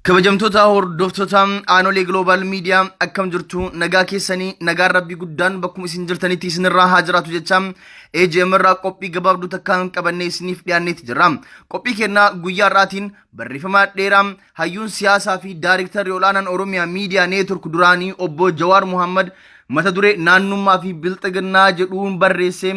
kabajamtoota hordoftoota aanolee gloobaal miidiyaa akkam jirtu nagaa keessanii nagaan rabbii guddaan bakkuma isin jirtanitti isinirraa haa jiraatu jecha AGM irraa qophii gabaabduu takkaan qabannee isiniif dhiyaanneeti jirra. Qophii kennaa guyyaa irraatiin barreeffama dheeraa Hayyuun siyaasaa fi daariktarri ol'aanaan Oromiyaa Miidiyaa Neetwork duraanii obbo Jawaar Muhammad mata duree naannummaa fi bilxiginnaa jedhuun barreessee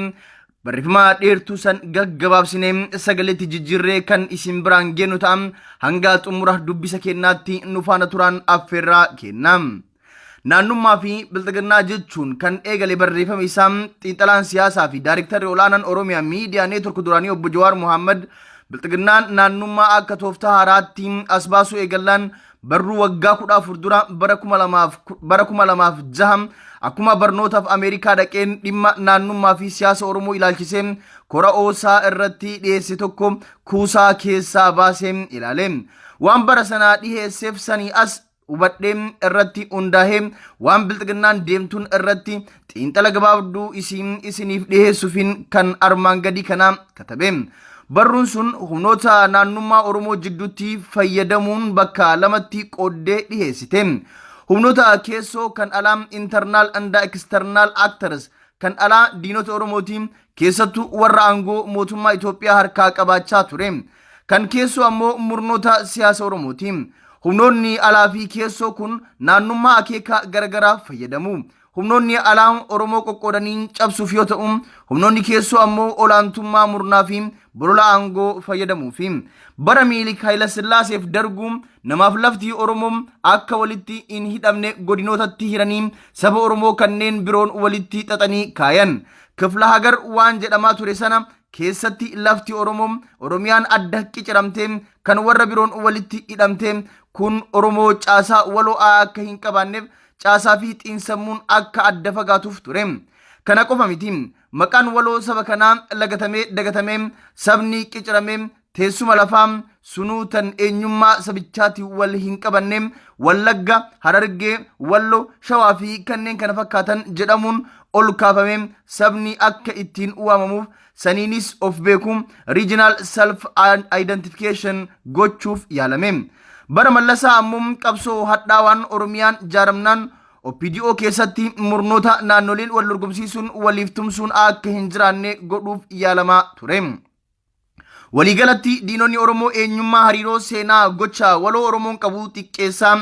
barreeffama dheertuu san gaggabaabsinee sagaleetti jijjiirree kan isin biraan geennu ta'a hanga xumura dubbisa keennaatti nu faana turaan affeerraa kenna. Naannummaa fi bilxiginnaa jechuun kan eegale barreeffama isaa xiinxalaan siyaasaa fi daariktarri olaanaan Oromiyaa miidiyaa neetwork duraanii obbo Jawaar Mohaammed bilxiginnaan naannummaa akka tooftaa haaraatti as baasuu eegallaan barruu waggaa kudha afur dura bara kuma lamaaf bara kuma lamaaf jaha akkuma barnootaaf Ameerikaa dhaqeen dhimma naannummaa fi siyaasa Oromoo ilaalchisee kora oosaa irratti dhiyeesse tokko kuusaa keessaa baasee ilaale. Waan bara sanaa dhiheesseef sanii as hubadhee irratti hundaa'ee waan bilxiginnaan deemtuun irratti xiinxala gabaabduu isii isiniif dhiheessuufiin kan armaan gadii kanaa katabe. Barruun sun humnoota naannummaa Oromoo jidduutti fayyadamuun bakka lamatti qooddee dhiheessite. Humnoota keessoo kan alaa internal and external actors kan alaa diinota Oromooti keessattuu warra aangoo mootummaa Itoophiyaa harkaa qabaachaa ture. Kan keessoo ammoo murnoota siyaasa Oromooti. Humnoonni alaa fi keessoo kun naannummaa akeeka garagaraaf fayyadamu. Humnoonni alaa Oromoo qoqqoodanii cabsuuf yoo ta'u, humnoonni keessoo ammoo olaantummaa murnaa fi bolola aangoo fayyadamuufi. Bara Minilik Hayilasillaaseef darguu namaaf lafti Oromoo akka walitti hin hidhamne godinootatti hiranii saba Oromoo kanneen biroon walitti xaxanii kaayan. Kifla hagar waan jedhamaa ture sana keessatti lafti Oromoo Oromiyaan adda qiciramtee kan warra biroon walitti hidhamtee kun Oromoo caasaa waloo'aa akka hin qabaanneef caasaa fi xiinsammuun akka adda fagaatuuf ture. Kana qofa miti maqaan waloo saba kanaa lagatamee dagatamee sabni qiciramee Teessuma lafaa sunuu tan eenyummaa sabichaatiin wal hin qabanne Wallagga, Harargee, Wallo, Shawaa fi kanneen kana fakkaatan jedhamuun ol kaafamee sabni akka ittiin waamamuuf saniinis of beeku regional self identification gochuuf yaalame. Bara Mallasaa ammoo qabsoo hadhaawaan Oromiyaan jaaramnaan OPDO keessatti murnoota naannoleen wal dorgomsiisuun waliif tumsuun akka hin jiraanne godhuuf yaalamaa ture. Waliigalatti diinonni Oromoo eenyummaa hariiroo seenaa gocha waloo Oromoon qabu xiqqeessaa,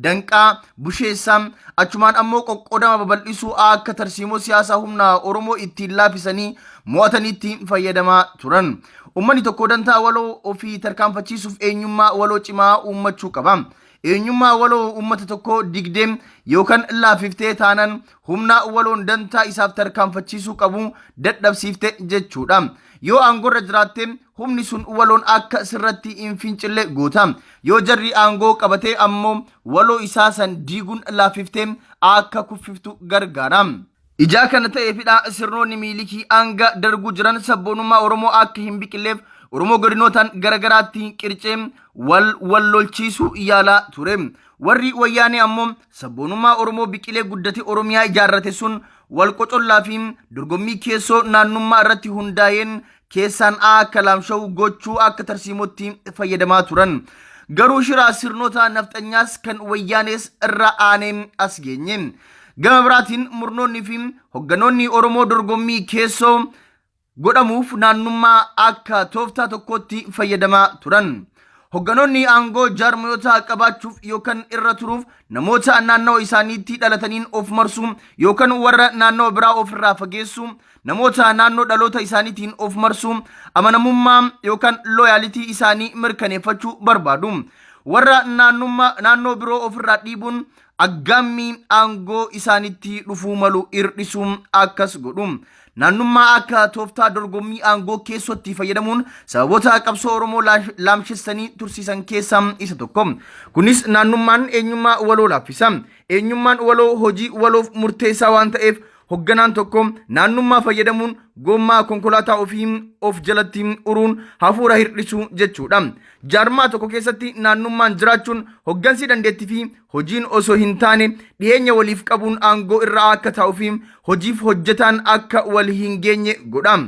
danqaa, busheessaa, achumaan ammoo qoqqoodama babal'isuu a akka tarsiimoo siyaasa humna Oromoo ittiin laafisanii mo'ataniitti fayyadamaa turan. Uummanni tokko dantaa waloo ofii tarkaanfachiisuuf eenyummaa waloo cimaa uummachuu qaba. Eenyummaa waloo uummata tokkoo digdee yookan laaffiftee taanan humnaa waloon dantaa isaaf tarkaanfachiisuu qabu dadhabsiifte jechuudha. Yoo aangorra jiraatte humni sun waloon akka sirratti hin fincille goota. Yoo jarri aangoo qabate ammoo waloo isaa san diiguun laaffiftee akka kuffiftu gargaara. Ijaa kana ta'eefidha sirnoonni miilikii hanga darguu jiran sabboonummaa Oromoo akka hin biqilleef Oromoo godinootaan garagaraatti qircee wal wal lolchiisuu yaalaa ture. Warri wayyaanee ammoo Sabboonummaa Oromoo biqilee guddate Oromiyaa ijaarrate sun wal qocollaa fi dorgommii keessoo naannummaa irratti hundaa'een keessaan A akka laamsha'u gochuu akka tarsiimootti fayyadamaa turan. Garuu shiraa sirnoota nafxanyaas kan wayyaanees irra aanee as geenye. Gama biraatiin murnoonni fi hogganoonni Oromoo dorgommii keessoo godhamuuf naannummaa akka tooftaa tokkootti fayyadamaa turan. Hogganoonni aangoo jaarmayoota qabaachuuf yookaan irra turuuf namoota naannawa isaaniitti dhalataniin of marsuu yookaan warra naannawa biraa ofirraa fageessuu, namoota naannoo dhaloota isaaniitiin of marsuu, amanamummaa yookaan looyaalitii isaanii mirkaneeffachuu barbaadu. Warra naannummaa naannoo biroo ofirraa dhiibuun aggaammii aangoo isaanitti dhufuu malu hir'isuun akkas godhu. Naannummaa akka tooftaa dorgommii aangoo keessootti fayyadamuun sababoota qabsoo Oromoo laash- laamshessanii tursiisan keessaa isa tokko. Kunis naannummaan eenyummaa waloo laaffisa. Eenyummaan waloo hojii waloof murteessaa waan ta'eef Hogganaan tokko naannummaa fayyadamuun gommaa konkolaataa ofii of jalatti uruun hafuura hir'isuu jechuudha. Jaarmaa tokko keessatti naannummaan jiraachuun hoggansi dandeettii fi hojiin osoo hin taane dhiyeenya waliif qabuun aangoo irra akka taa'uu fi hojiif hojjetaan akka wal hin geenye godha.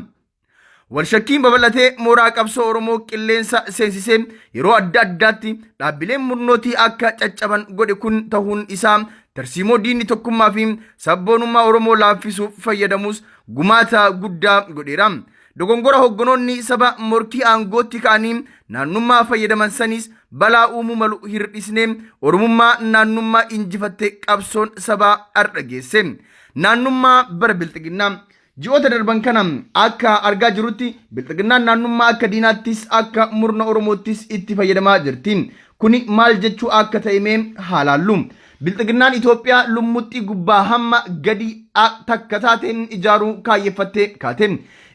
Walshakkiin babal'atee mooraa qabsoo Oromoo qilleensa seensisee yeroo adda addaatti dhaabbileen murnootii akka caccaban godhe kun tahuun isaa tarsiimoo diinni tokkummaa fi sabboonummaa Oromoo laaffisuuf fayyadamus gumaata guddaa godheera. Dogongora hoggonoonni saba morkii aangootti ka'anii naannummaa fayyadaman saniis balaa uumuu malu hir'isnee Oromummaa naannummaa injifatte qabsoon sabaa har'a geesse. Naannummaa bara bilxiginnaa. Ji'oota darban kana akka argaa jirrutti bilxiginnaan naannummaa akka diinaattis akka murna Oromoottis itti fayyadamaa jirti. Kuni maal jechuu akka ta'e mee haa laallu. Bilxiginnaan Itoophiyaa lummuxxii gubbaa hamma gadi a takka taate ijaaruu kaayyeffattee kaate.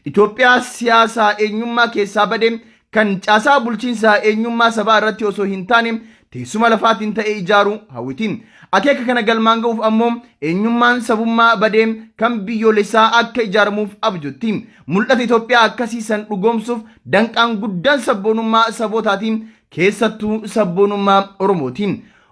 Itoophiyaa siyaasa eenyummaa keessaa bade kan caasaa bulchiinsaa eenyummaa sabaa irratti osoo hin taane teessuma lafaatiin ta'e ijaaruu hawwiti. Akeeka kana galmaan ga'uuf ammoo eenyummaan sabummaa badee kan biyyoolessaa akka ijaaramuuf abjotti. Mul'ata Itoophiyaa akkasii san dhugoomsuuf danqaan guddaan sabboonummaa sabootaati, keessattuu sabboonummaa Oromooti.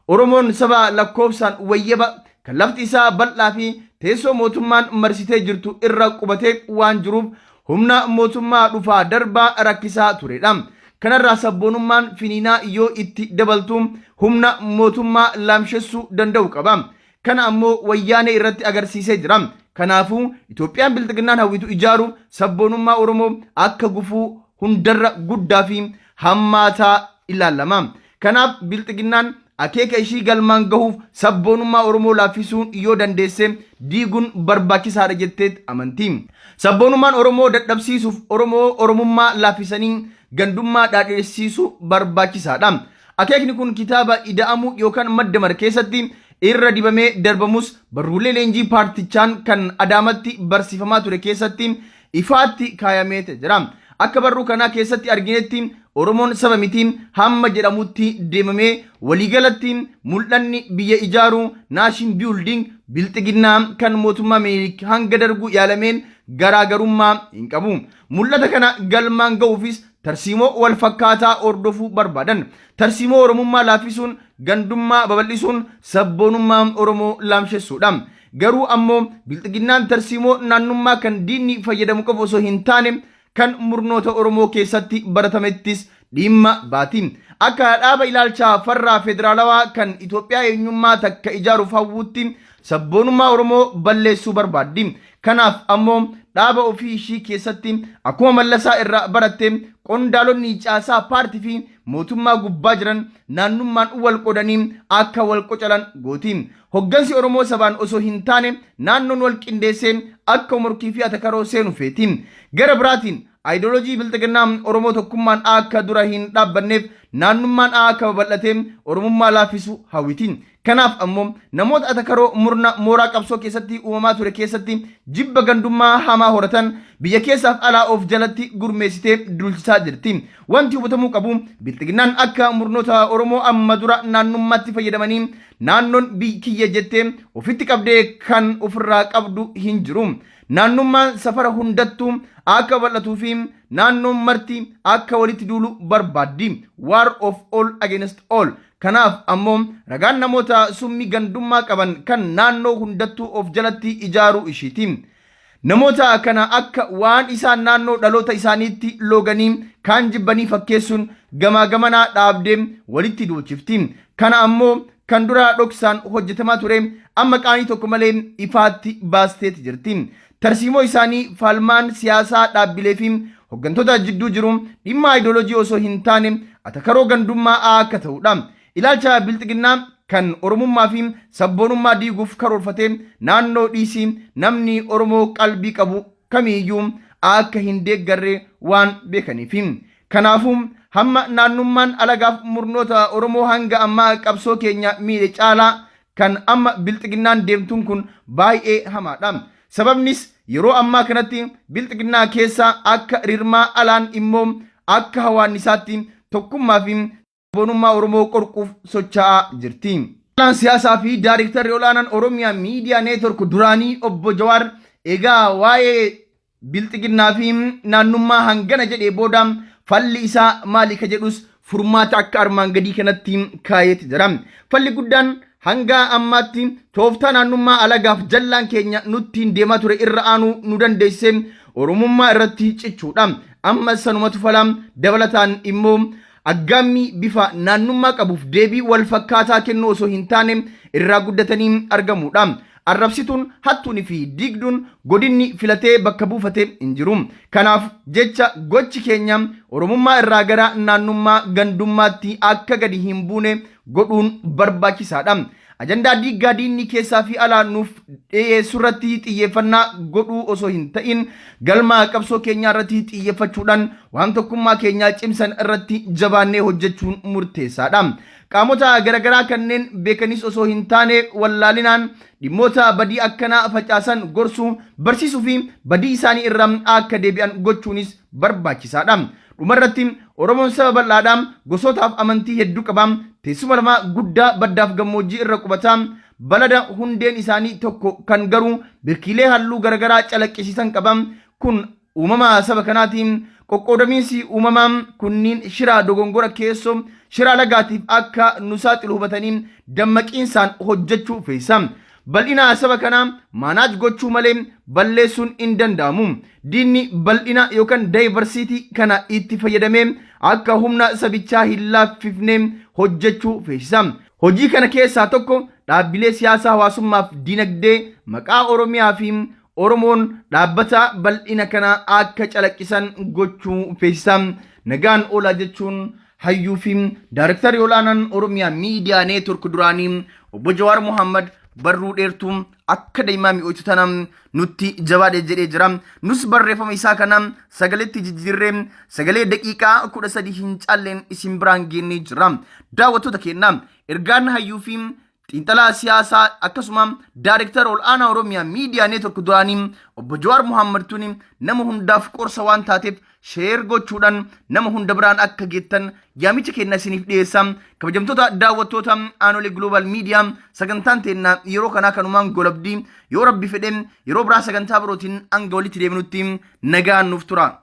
Oromoon saba lakkoofsaan wayyaba, kan lafti isaa bal'aa fi teessoo mootummaan marsitee jirtu irra qubatee waan jiruuf humna mootummaa dhufaa darbaa rakkisaa turedha. Kanarraa sabboonummaan finiinaa yoo itti dabaltu humna mootummaa laamshessuu danda'u qaba. Kana ammoo Wayyaanee irratti agarsiisee jira. Kanaafuu Itoophiyaan Bilxiginnaan hawwitu ijaaruuf sabboonummaa Oromoo akka gufuu hundarra guddaa fi hammaataa ilaalama. Kanaaf Bilxiginnaan akeeka ishii galmaan gahuuf sabboonummaa Oromoo laaffisuu yoo dandeesse diiguun barbaachisaadha jetteet amanti. Sabboonummaan Oromoo dadhabsiisuuf Oromoo Oromummaa laaffisanii gandummaa dhaadhessiisuu barbaachisaadha. Akeekni kun kitaaba Ida'amuu yookaan Maddamar keessatti irra dibamee darbamus barruulee leenjii paartichaan kan Adaamatti barsiifamaa ture keessatti ifaatti kaayameete jira. Akka barruu kanaa keessatti arginetti Oromoon saba miti hamma jedhamutti deemamee waliigalatti mul'anni biyya ijaaruu naashin biyulding bilxiginnaa kan mootummaa minilik hanga darguu yaalameen garaagarummaa hin qabu. Mul'ata kana galmaan ga'uufis tarsiimoo wal fakkaataa hordofuu barbaadan. Tarsiimoo Oromummaa laaffisuun gandummaa babal'isuun sabboonummaa Oromoo laamshessuudha. Garuu ammoo bilxiginnaan tarsiimoo naannummaa kan diinni fayyadamu qofa osoo hin taane kan murnoota Oromoo keessatti baratamettis dhiimma baati. Akka dhaaba ilaalcha farraa federaalawaa kan Itoophiyaa eenyummaa takka ijaaruuf hawwuutti sabboonummaa Oromoo balleessuu barbaaddi. Kanaaf ammoo dhaaba ofii ishii keessatti akkuma Mallasaa irraa baratte qondaalonni caasaa paartii fi mootummaa gubbaa jiran naannummaan wal qoodanii akka wal qocalan gooti. Hoggansi Oromoo sabaan osoo hin taane naannoon wal qindeessee akka morkii fi atakaroo seenu feeti. Gara biraatiin Ideology Bilxiginnaa Oromoo tokkummaan akka dura hin dhaabbanneef naannummaan akka babal'atee Oromummaa laaffisu hawwiti. Kanaaf ammoo namoota atakaroo murna mooraa qabsoo keessatti uumamaa ture keessatti jibba gandummaa hamaa horatan biyya keessaaf alaa of jalatti gurmeessitee duulchisaa jirti. Wanti hubatamuu qabu Bilxiginnaan akka murnoota Oromoo amma dura naannummaatti fayyadamanii Naannoon biyyi kiyya jettee ofitti qabdee kan ofirraa qabdu hin jiru. Naannummaan safara hundattuu akka bal'atuu fi naannoon marti akka walitti duulu barbaaddi. War of all against all. Kanaaf ammoo ragaan namoota summii gandummaa qaban kan naannoo hundattuu of jalatti ijaaruu ishiiti. Namoota kana akka waan isaan naannoo dhaloota isaaniitti looganii kaan jibbanii fakkeessuun gamaa gamanaa dhaabdee walitti duulchifti. Kana ammoo kan duraa dhoksaan hojjetamaa ture amma qaanii tokko malee ifaatti baasteeti jirti. Tarsiimoo isaanii falmaan siyaasaa dhaabbilee fi hoggantoota jidduu jiru dhimma ayidoolojii osoo hin taane atakaroo gandummaa akka ta'udha. Ilaalcha Bilxiginnaa kan Oromummaa fi sabboonummaa diiguuf karoorfatee naannoo dhiisii namni Oromoo qalbii qabu kamiiyyuu akka hin deeggarre waan beekaniifi. Kanaafuu, hamma naannummaan alagaaf murnoota Oromoo hanga ammaa qabsoo keenya miidhe caalaa kan amma Bilxiginnaan deemtuun kun baay'ee hamaadha. Sababnis yeroo ammaa kanatti Bilxiginnaa keessa akka rirmaa alaan immoo akka hawaannisaatti tokkummaa fi sabboonummaa Oromoo qorquuf socha'aa jirti. Qorataan siyaasaa fi Daarektarri Ol'aanaan Oromia Media Network duraanii Obbo Jawaar egaa waa'ee Bilxiginnaa fi naannummaa hangana jedhee booda falli isaa maali ka jedhus furmaata akka armaan gadii kanatti kaayeeti jira. Falli guddaan hanga ammaatti tooftaa naannummaa alagaaf jallaan keenya nuttiin deemaa ture irra aanuu nu dandeessise Oromummaa irratti cichuudha. Ammas sanumatu fala. Dabalataan immoo aggaammii bifa naannummaa qabuuf deebii walfakkaataa kennuu osoo hin taane irraa guddatanii argamuudha. Arrabsituun, hattuun fi diigduun godinni filatee bakka buufate hin jiru. Kanaaf jecha gochi keenya Oromummaa irraa gara naannummaa, gandummaatti akka gadi hin buune godhuun barbaachisaadha. Ajandaa diiggaa diinni keessaa fi alaa nuuf dhiyeessu irratti xiyyeeffannaa godhuu osoo hin ta'in galma qabsoo keenyaa irratti xiyyeeffachuudhaan waan tokkummaa keenyaa cimsan irratti jabaannee hojjechuun murteessaadha. Qaamota garagaraa kanneen beekanis osoo hin taane wallaalinaan dhimmoota badii akkanaa facaasan gorsuu, barsiisuu fi badii isaanii irraa akka deebi'an gochuunis barbaachisaa dha. Dhuma irratti, Oromoon saba bal'aa dha, gosootaa fi amantii hedduu qaba, teessuma lafaa guddaa baddaa fi gammoojjii irra qubata, balada hundeen isaanii tokko kan garuu birkiilee halluu garagaraa calaqqisiisan qaba. Kun uumama saba kanaati. Qoqqoodamiinsi uumamaa kunniin shira dogongora keessoo, shira alagaatiif akka nu saaxilu hubatanii dammaqiinsaan hojjechuu feesisa. Bal'ina haasaba kanaa maanaaj gochuu malee balleessuun hin danda'amu. Diinni bal'ina yookan diversity kana itti fayyadamee akka humna sabichaa hin laaffifne hojjechuu feesisa. Hojii kana keessaa tokko dhaabbilee siyaasaa hawaasummaaf dinagdee maqaa Oromiyaa fi Oromoon dhaabbata bal'ina kana akka calaqqisan gochuu feesisa. Nagaan oolaa jechuun hayyuu fi daarektarri olaanaan Oromiyaa miidiyaa neetwork duraanii obbo Jawaar Mohaammed barruu dheertuu akka daimaa mi'ooytu tana nutti jabaadhe jedhee jira. Nus barreeffama isaa kana sagaleetti jijjiirree sagalee daqiiqaa kudha sadii hin caalleen isin biraan geennee jira. Daawwattoota keenya ergaan hayyuu fi Xiinxalaa siyaasaa akkasuma Daarektara Ol'aanaa Oromiyaa Miidiyaa Neetwork duraanii obbo Jawaar Muhammad tuni nama hundaaf qorsa waan taateef sheer gochuudhaan nama hunda biraan akka geettan yaamicha keenna isiniif dhiyeessa. Kabajamtoota daawwattoota Aanolee Global Media sagantaan teenna yeroo kanaa kanumaan golabdii yoo rabbi fedhe yeroo biraa sagantaa birootiin hanga walitti deebinutti nagaan nuuf tura.